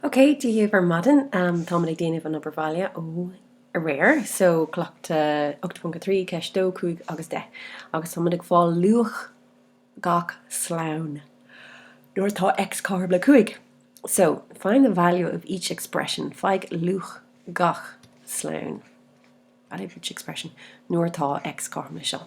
Ok, Dia dhaoibh ar maidin. Táimid ag déanamh an obair bhaile ó aréir, so cleachtadh 8.3, ceist 2, 5 agus 10. Agus táimid ag fáil luach gach slonn nuair atá X cothrom le 5. So, find the value of each expression, faigh luach gach slonn, value of each expression, nuair atá X cothrom le seo.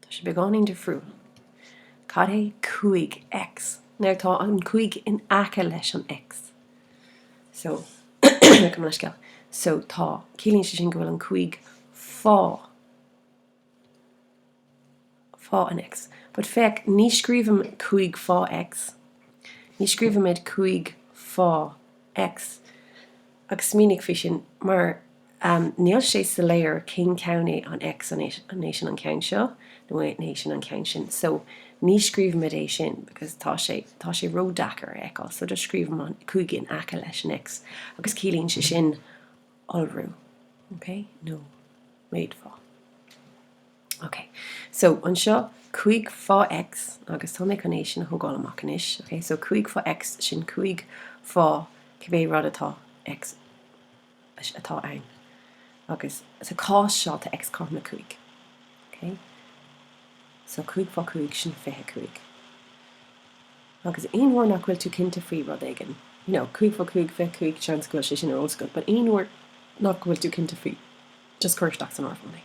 Tá sé beagáinín difriúil. Cad é 5X? Nuair atá an 5 in aice leis an X. So, gabh mo leithscéal. So, tá, ciallaíonn sé sin go bhfuil an 5 fá, fá an X. But féach, ní scríobhaim 5 fá X. Ní scríobhaimid 5 fá X. agus smaoinigh faoi sin, mar níl sé soiléir cén ceann é an X, an é sin an ceann seo nó an é sin an ceann sin. So, ní scríobhaimid é sin, because tá sé, tá sé ró-deacair a fheiceáil, so just scríobhaim an 5 in aice leis an X, agus ciallaíonn sé sin iolrú, okay, nó méadaithe fá. Ok, so anseo, 5 fá X, agus tá mé chun é sin a thógáil amach anois, ok, so 5 fá X, sin 5 fá cibé rud atá X atá ann, agus sa chás seo, tá X cothrom le 5, ok, so 5 fá 5, sin 25. Agus aon uair nach bhfuil tú cinnte faoi rud éigin, you know, 5 fá 5, 25, seans go bhfuil sé sin ar eolas agat, but aon uair nach bhfuil tú cinnte faoi, Just cuir isteach san áireamhán é.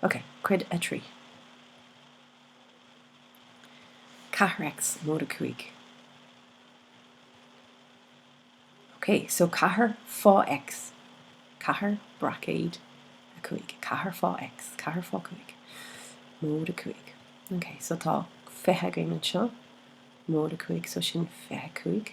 Ok, cuid a trí. Ceathair X móide cúig. Ok, so ceathair fá X, ceathair braicéad a cúig, ceathair fá X, ceathair fá cúig, móide cúig. Ok, so tá fiche againn anseo, móide cúig, so sin fiche cúig.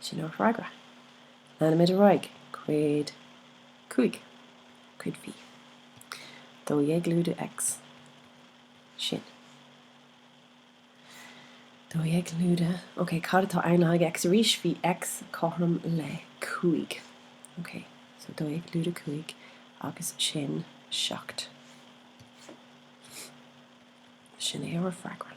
Sin ár bhfreagra. Leanfaimid ar aghaidh cuid cúig, cuid V, dó dhéag lúide X. Sin. Dó dhéag lúide. Ok, cad atá ann le haghaidh X arís? Bhí X cothrom le cúig. Ok, so dó dhéag lúide cúig agus sin seacht. Sin é ár bhfreagra.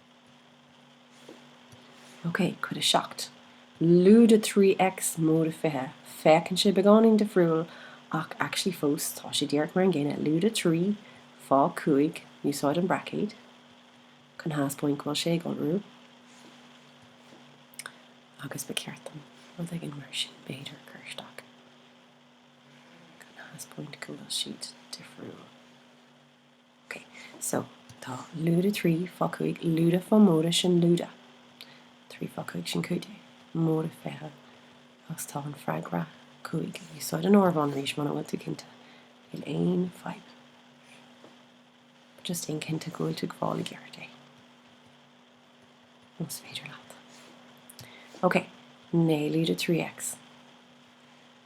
OK, Cuid 7, lúide 3X, móide 20, Féachann sé beagáinín difriúil, ach actually fós tá sé díreach mar an gcéanna, lúide 3, fá 5, Úsáid an braicéad chun thaispeáint go bhfuil sé ag iolrú. Agus ba cheart dom rud éigin mar sin b'fhéidir a chur isteach chun thaispeáint go bhfuil siad difriúil. OK, so tá lúide trí fá cúig, lúide fá móide sin lúide. Trí fá cúig sin cúig déag, móide fiche agus tá an freagra cúig. Úsáid an áireamhán arís muna bhfuil tú cinnte. Níl aon fadhb. Just déan cinnte go bhfuil tú ag fáil i gceart é, más féidir leat. OK, naoi lúide trí X.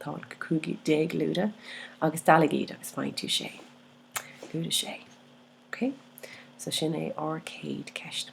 Tá an 15 lúide agus dealaigh iad agus faigheann tú 6. Lúide 6. Ok? So sin é ár gcéad ceist.